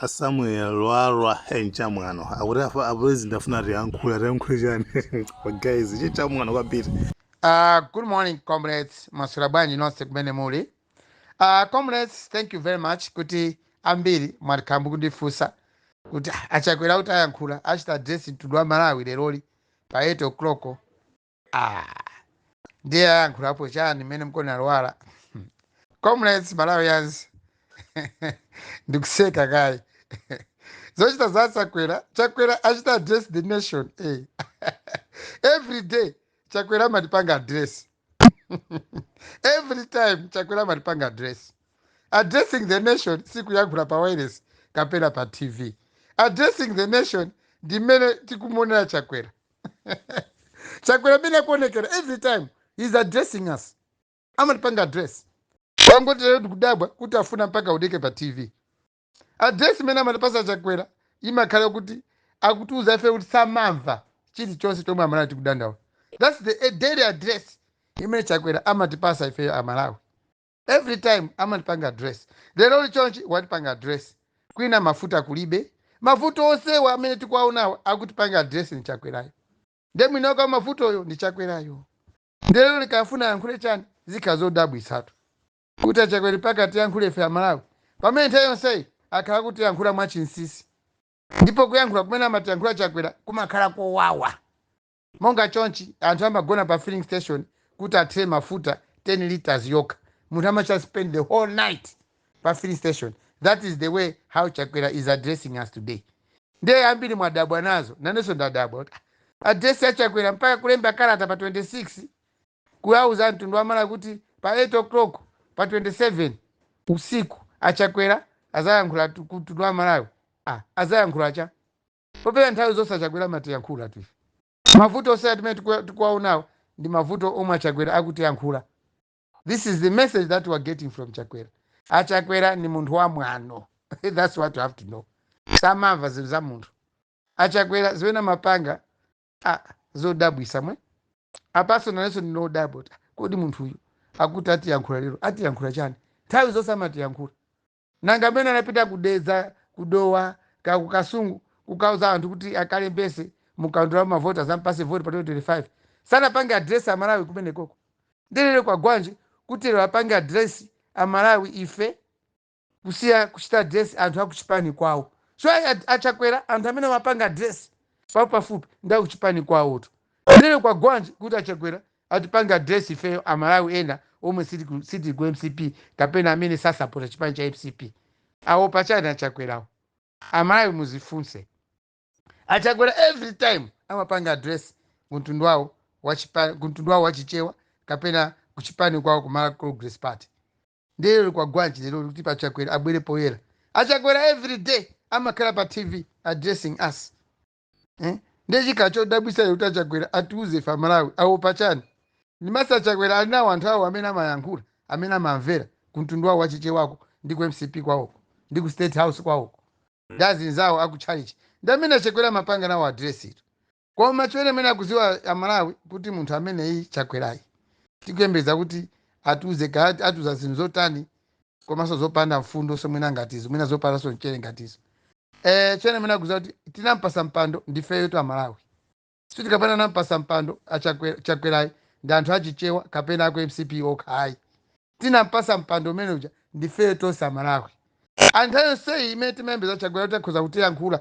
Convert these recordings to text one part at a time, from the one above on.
a samuel lwalwa eh, ichi nchamwano akuti afa- apulezidenti afuna atiyankhula atiyankhule chani guys chi chamwano kwambiri Uh, good morning, comrades. Maswera bwanji nonse kumene muli. Uh, comrades, thank you very much kuti ambiri mwakhala mukundifunsa kuti "Ah, achakwera kuti ayankhula achite address mtundu wa Malawi leroli pa 8 o'clock Ah, ndiye ayankhulapo chani mmenemu kodi a Lwara Hmm. comrades malawians ndikuseka kaye zochita za chakwera chakwera achita address the nation eh. every day chakwera amatipanga address every time chakwera amatipanga address addressing the nation sikuyankhula pa wireless kapena pa tv addressing the nation ndi mmene tikumuonera chakwera chakwera mmene akuonekera every time he is addressing us amatipanga address wangoti lero tikudabwa kuti afuna mpaka aoneke pa tv address imene amatipasa chakwera imakhala kuti akutiuza ife kuti samamva chilichonse chomwe amalawi tikudandaula thats the daily address imene chakwera amatipasa ifeyo amalawi every time amatipanga address lero li chonchi watipanga address kwina mafuta kulibe mavuto onsewa amene tikuwaonawa akutipanga address ndi chakwerayo nde mwini wake wa mavutoyo ndi chakwerayo nde lero li akufuna ayankhule chani zikhala zodabwitsatu kuti achakwera mpaka atiyankhule ife amalawi pamene nthawi yonseyi akhala akutiyankhula mwachinsisi ndipo kuyankhula kumene amatiyankhula chakwera kumakhala kowawa Monga chonchi, anthu amagona pa filling station kuti athire mafuta 10 litres yokha. Munthu amachita spend the whole night pa filling station. That is the way how Chakwera is addressing us today. Ndiye ambiri mwadabwa nazo, nanenso ndadabwa kuti ah, address ya Chakwera mpaka kulemba kalata pa 26 kuuza mtundu wa Malawi kuti pa 8 o'clock pa 27 usiku achakwera azayankhula tu- ku mtundu wa Malawi. Ah, azayankhula cha popeza nthawi zonse achakwera amatiyankhulatu ife mavuto onsewatu amene tikuwa- tikuwaonawo ndi mavuto omwe achakwera akutiyankhula this is the message that we are getting from chakwera achakwera ni munthu wa mwano that's what you have to know samamva zimene za munthu achakwera zimene amapanga ah, zodabwisa mwe apanso nanenso ndikudabwa kuti kodi munthu uyu akuti atiyankhula lero atiyankhula chani nthawi zonse amatiyankhula Nanga amene anapita ku Dedza, ku Dowa, kaya ku Kasungu kukauza anthu kuti akalembetse mu kaundula wa mavoti azampatse voti pa 2025, sanapange address a Malawi kumeneko? Ndiye lero kwagwanji kuti lero apange address a Malawi ife kusiya kuchita address anthu a kuchipani kwawo? So a, a, a Chakwera anthu amene amapanga address pafupipafupi ndi a kuchipani kwawotu. Ndiye lero kwagwanji kuti a Chakwera Atipange address ifeyo a Malawi ena omwe sitili ku mcp kapena amene sasapota chipani cha mcp. Awopa chani a Chakwera wo? A Malawi muzifunse. A Chakwera every time amapanga address ku mtundu wawo wa Chichewa kapena ku chipani kwawo ku Malawi Congress Party. Ndiye lero kwagwanji leroli kuti pa Chakwera abwere poyera. A Chakwera every day amakhala pa TV addressing us. eh? ndiye chikhala chodabwitsa lero kuti achakwera atiuze ife amalawi awopa chani ndimesa achakwera ali nawo anthu awo amene amayankhula amene amamvera kumtundu wawo wachichewako ndi ku mcp kwawoko ndi ku state house kwawoko ndi azinzawo akutchalichi ndi amene achakwera amapanga nawo adiresi ito koma chimene muyenera kuziwa amalawi kuti munthu ameneyi chakwerayi tikuyembeza kuti atiuze kaya atiuza zinthu zotani komanso zopanda mfundo so mwina ngatizo mwina zopandanso mchere ngatizo eh chimene muyenera kuziwa kuti tinampasa mpando ndifeyotu amalawi sikuti kapena anampasa mpando achakwe- chakwerayi ndi anthu achichewa kapena aku mcp okha ayi tinampasa mpando umene uja ndifeyo tonse amalawi nthawi yonseyi imene timayembekeza chakwera kuti akhoza kutiyankhula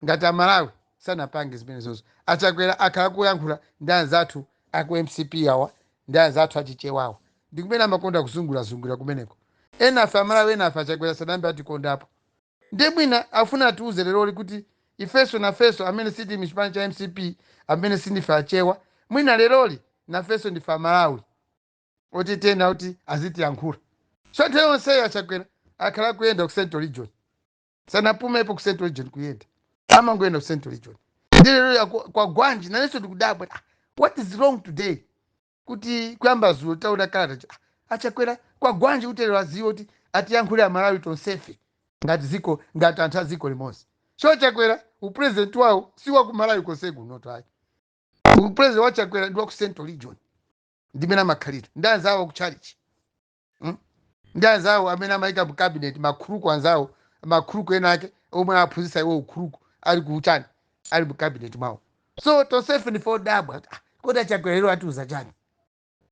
ngati amalawi sanapange zimenezozo achakwera akhala kuyankhula ndi anzathu aku mcp awa ndi anzathu achichewawa ndi kumene amakonda kuzungurazungulira kumeneko enafe amalawi enafe achakwera sanayambe atikondapo Ndiye mwina afuna atiuze leroli kuti ifenso nafenso amene sitili mchipani cha mcp amene sindife achewa mwina leroli nafenso ndife amalawi oti tiyenera kuti azitiyankhula so nthawi yonseyo achakwera akhala akuyenda ku central region sanapumepo ku central region kuyenda amangoyenda ku central region ndiye leroli kwagwanji nanenso ndikudabwa ah, what is wrong today kuti kuyamba zulo taona kalata cha- achakwera kwagwanji kuti lero aziwe kuti atiyankhule amalawi tonsefe ngati ziko ngati anthu a ziko limodzi so chakwera upresident wawo si wa ku malawi konse kunotu ayi upresident wa chakwera ndi wa ku central region ndimene amakhalira ndi anzawo aku chalichi mm? ndi anzawo amene amayika mu cabinet makhuluku anzawo makhuluku ena ake omwe aphunzitsa iwo ukhuluku ali kuchani ali mu cabinet mwawo so tonsefe ndife odabwa kuti, ah, kodi achakwera lero atiuza chani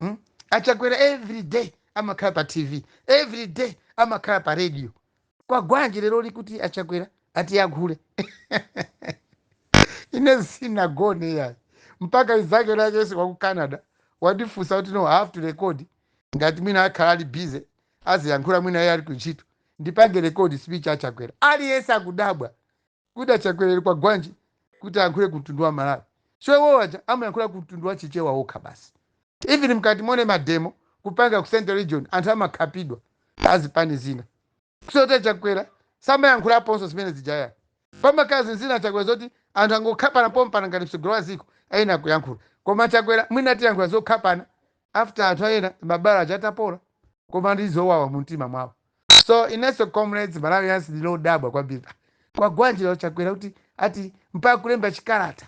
mm? achakwera every day amakhala pa tv every day amakhala pa radio kwagwanji leroli kuti achakwera atiyankhule ine sinagone yayi mpaka izake lake yese kwa ku canada wandifunsa kuti no I have to record ngati mwina akhala ali busy aziyankhula mwina iye ali ku ntchito ndipange record speech achakwera aliyense akudabwa kuti achakwera lero kwagwanji kuti ayankhule ku mtundu wa malawi so iwowo aja amayankhula ku mtundu wa chichewa wokha basi even mkati mone mademo kupanga ku central region anthu amakhapidwa azipani zina so chakwera samayankhulaponso zimene zijaya pamakazi nzina chakwera zoti anthu angokhapana pompana ngati mtsogoleri wa ziko ayenera kuyankhula koma chakwera mwina atiyankhula zokhapana after anthu ena mabala aja atapola koma ndi zowawa mu mtima mwawo So inenso comrades Malawians ndine odabwa kwambiri ah kwagwanji lero Chakwera kuti ati mpaka kulemba chikalata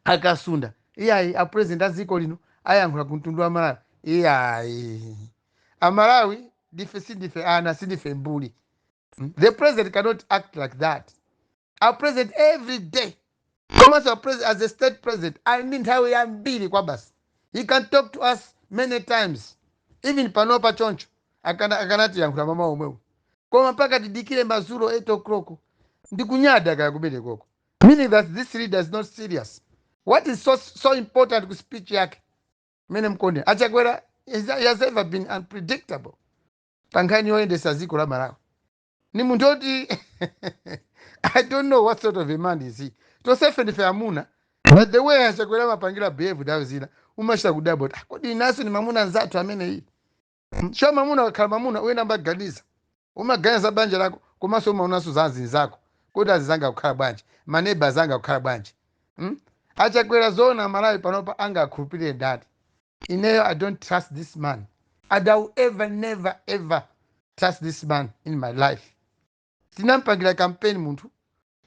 a Kasunda iyayi a president a dziko lino ayankhula ku mtundu wa Malawi iyayi a Malawi ndife sindife ana sindife mbuli Mm. the president cannot act like that a president every day komanso a president as a state president ali ndi nthawi yambiri kwabasi he can talk to us many times even panopa choncho akana- akanatiyankhula mamawa omwewo koma mpaka tidikire mazulo 8 o'clock ndikunyada kaya kumene koko meaning that this leader is not serious what is so, so important ku speech yake mene mkonde achakwera is- he has ever been unpredictable pa nkhani yoyendesa dziko la malawi ni munthu oti i don't know what sort of a man is he tosefe ndife amuna but the way achakwera amapangira behave nthawi zina umachita kudabwa kuti kodi inaso ni mamuna nzathu ameneyi sho mamuna akakhala mamuna uyenda mbaganiza umaganiza banja lako komanso umaonanso za azinzako kodi azizanga akukhala bwanji maneba azanga akukhala bwanji hmm? achakwera zoona malawi panopa angakhulupirire ndani ineyo i don't trust this man and i will ever never ever trust this man in my life tinampangira kampeni munthu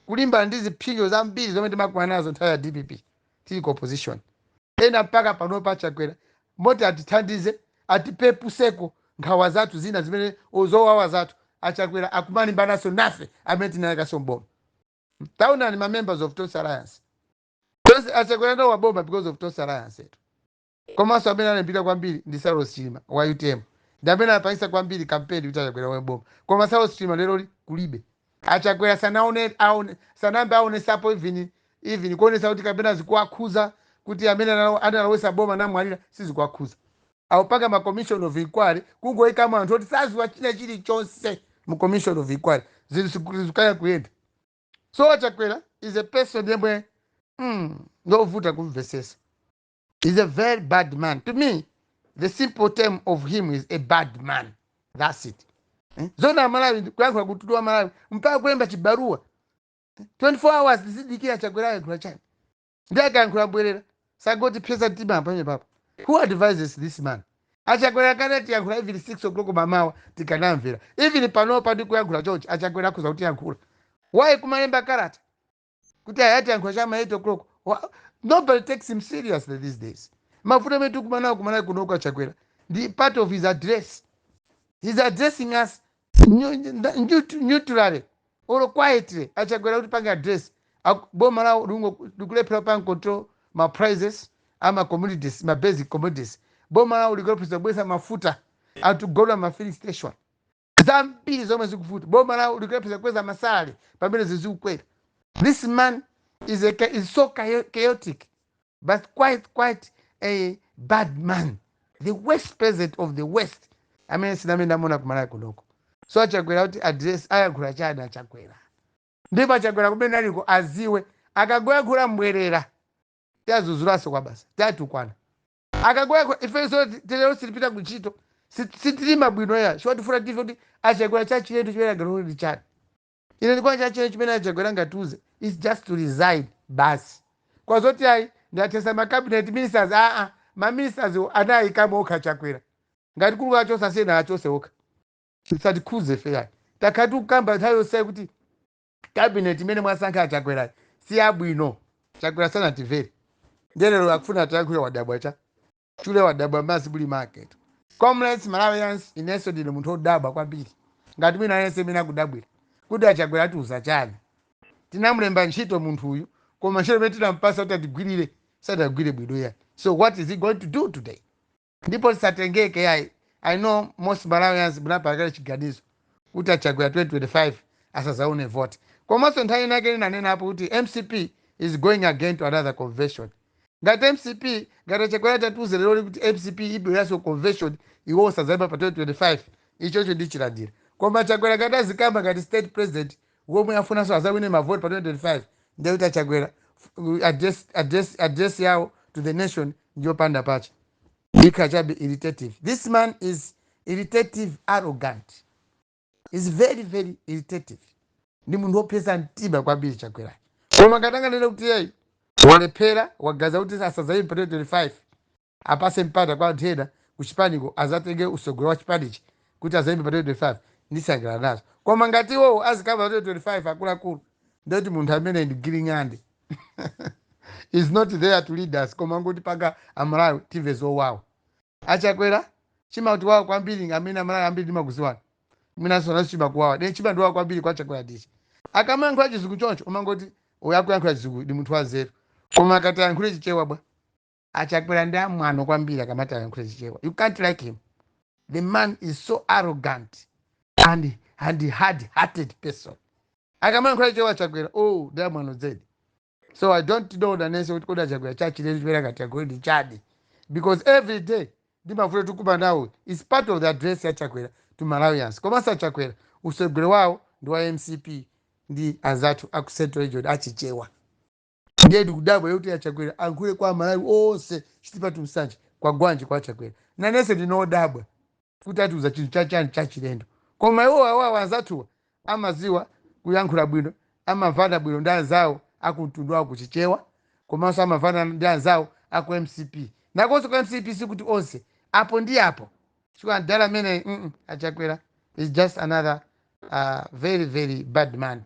kulimbana ndi zipsinjo zambiri zomwe timakumana nazo nthawi ya dpp tili ku opposition ena mpaka panopa achakwera moti atithandize atipepuseko nkhawa zathu zina zimene o, zowawa zathu achakwera akumalimbananso nafe amene tinawaikaso mboma taonani ma members of tonse alliance Achakwera analowa boma because of Tonse Alliance tu. Komanso amene analimbikira kwambiri ndi Saulos Chilima wa utm. Ndi amene anapangitsa kwambiri campaign kuti Achakwera alowe boma. Koma Saulos Chilima lero kulibe. Achakwera sanaone aone sanayambe aonesapo even even kuonesa kuti kapena zikuwakhuza kuti amene analo- analowesa boma anamwalira sizikuwakhuza. Akupanga ma commission of inquiry kungoikamo anthu oti saziwa china chilichonse mu commission of inquiry. Zinthu zikukanika kuyenda. so chakwera is a person yemwe mm, ngovuta kumvesesa is a very bad man to me the simple term of him is a bad man that's it eh? zoona amalawi kuyankhula ku mtundu wa malawi mpaka kulemba chibaruwa 24 hours tizidikira chakwera ayankhula chani ndi akayankhula mbwerera sangotipsetsa mtima pamenepapa who advises this man achakwera akanatiyankhula even 6 o'clock mamawa tikanamvera even panopa ndi kuyankhula chonchi achakwera akhoza kutiyankhula why kumalemba kalata kuti ayi atiyankhula chama 8 o'clock Wa- nobody takes him seriously these days mavuto amene tikumanawo kumalawi kunoku achakwera ndi part of his address he's addressing us Nyu- nda- nyu- neutrally or quietly achakwera kuti pange address Aku- boma lawo lingo- likulephera kupanga control ma prices ama commodities ma basic commodities boma lawo likulephera kubweza mafuta akugona ma filling station zambiri zomwe zikuvuta boma lawo likulephera kukweza masalary pamene zinthu zikukwera this man is, a, cha- is so chaotic but quite quite a bad man the worst president of the west amene sindinambe ndamuona kumalawi kunoko so achakwera kuti address ayankhula chani achakwera ndipo achakwera kumene aliko aziwe akangoyankhula mbwerera tiazuzulaso kwa basa tiatukwana akangoyankhula ifenso tere lero sitipita kuntchito sitilima bwino ayi chomwe tifuna ife kuti achakwera chachilendo chimene anganene ndi chani Ine ndikuona chachilendo chimene a Chakwera angatiuze is just to resign basi kwa zoti ayi ndathetsa ma cabinet ministers aa ma ministerswo anayikamo okha a Chakwera ngati kuli kuwachotsa asiyeni awachotse okha zisatikhudze ife ayi takhala tikukamba nthawi yonseyi kuti cabinet imene mwasankha a Chakwerayi si yabwino Chakwera sanatimvere ndiye lero akufuna atiyankhule wadabwa cha chule wadabwa madzi muli mwake comrades malawians inenso ndine munthu odabwa kwambiri ngati wina aliyense imene akudabwira kuti achakwera atiuza chani tinamulemba ntchito munthu uyu koma ntchito imene tinampasa kuti atigwirire sadagwire bwino ayi so what is he going to do today ndipo tisatengeke yayi i know most malawians munapanga kale chiganizo kuti a Chakwera 2025 asazaone vote komaso nthawi inayake ndinanenapo kuti mcp is going again to another convention ngati mcp ngati a Chakwera atatiuza leroli kuti mcp ibweraso ku convention iwowo sazaima pa 2025 ichocho ndichilandira koma Chakwera ngati azikamba ngati state president womwe afunaso azawine ma vote pa 2025 ndiye kuti a Chakwera address, address, address yawo to the nation ndiyopanda pake ikhala chabe irritative this man is irritative arrogant is very very irritative ndi munthu wopsetsa mtima kwambiri chakwerayo koma ngati anganene kuti iyeyo walephera waganiza kuti asadzayime pa 2025 apase mpata kwa anthu ena kuchipaniko azatenge usogoleri wa chipanichi kuti azayime pa 2025 ndisangalala nazo koma ngati iwowo azikamba pa 2025 akuluakulu ndiye kuti munthu ameneyu ndi giling'ande is not there to lead us koma kungotipanga amalawi timve zowawa Achakwera chimatiwawa kwambiri amene amalawi ambiri timakuziwani mwinanso nanunso chimakuwawani then chimandiwawa kwambiri kwa chakwera ndichi akamayankhula chizungu choncho umangoti uyu akuyankhula chizungu ndi munthu wanzeru koma akati ayankhule chichewa bwa achakwera ndi amwano kwambiri akamati ayankhule chichewa you can't like him the man is so arrogant and, and hard hearted person akamayankhula chichewa chakwera oh ndi amwano zedi So I don't know nanenso kuti kodi achakwera chachitika lero chimene ngati agole ndi chani because every day ndimavuta tikuma nawo is part of the address ya chakwera to malawians komanso achakwera utsogoleri wawo ndi wa mcp ndi anzathu a ku central region achichewa ndiye ndikudabwa kuti achakwera ayankhule kwa amalawi onse chitipa to nsanje kwagwanji kwa achakwera nanenso ndikudabwa kuti atiuza chinthu chachani chachilendo koma iwo awowa anzathuwa amadziwa kuyankhula bwino amamvana bwino ndi anzawo akumtundu wawo kuchichewa komanso amamvana ndi anzawo aku mcp nakonso ku mcp sikuti onse apo ndi apo chifukwa mdala ameneyi mm, achakwera is just another uh, very very bad man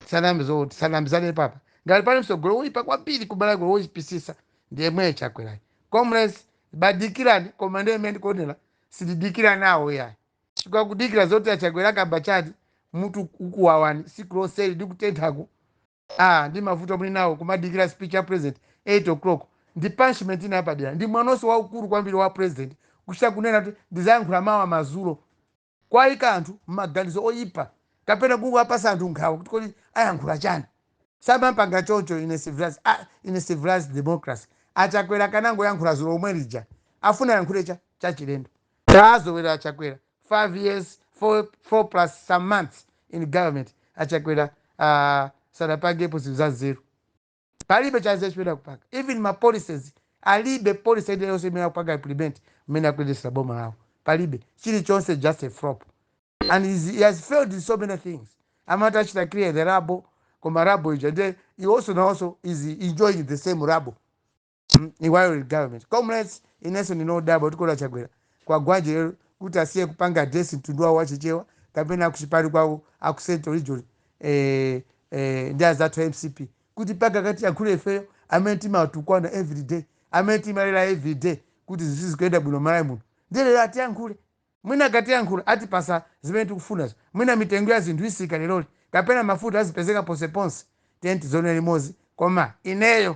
sanam zoti sanamizane apapa ngati pali mtsogoleri woyipa kwambiri kumalawi woyipitsitsa ndi yemwe chakwerayo comrades bwadikirani koma ndiye imene ndikuonera sindidikira nawo yayi chifukwa kudikira zoti achakwera akamba chani mutu ukuwawani tsiku lonseli ndikutenthaku ah ndi mavuto muli nawo kumadikira speech ya president 8 o'clock ndi punishment ina yapadera ndi mwanonso waukulu kwambiri wa president kuchita kunena kuti ndizayankhula mawa madzulo Kuwaika anthu m'maganizo oyipa kapena kungowapatsa anthu nkhawa kuti kodi ayankhula chani. Samapanga choncho in a civilized a in a civilized democracy. A Chakwera akanangoyankhula dzulo lomwe lija. Afuna ayankhule cha chachilendo. Tawazolowera a Chakwera 5 years 4 4 plus some months in government. A Chakwera aah sadapangepo zinthu za nzeru. Palibe chanzeru chimene akupanga. Even ma policies alibe policy ina yonse imene akupanga implement mmene akuyendetsera boma lawo. Palibe. Chilichonse just a flop. And he is, he has failed in so many things. Amati achita clear the rubble koma rubble ija nde he also nayenso is enjoying the same rubble. Mm, while in government comrades inenso ndikudabwa kuti kodi achakwera kwagwanji lero kuti asiye kupanga address mtundu wawo wachichewa kapena akuchipani kwawo aku central region eh, eh, ndi anzathu a mcp kuti mpaka akatiyankhule ifeyo amene timatukwanidwa everyday amene timalira everyday kuti zinthu sizikuyenda bwino malawi muno ndiye lero atiyankhule mwina akatiyankhula atipatsa zimene tikufunazo mwina mitengo ya zinthu itsika leroli kapena mafuta azipezeka ponseponse dziko lonse limodzi koma ineyo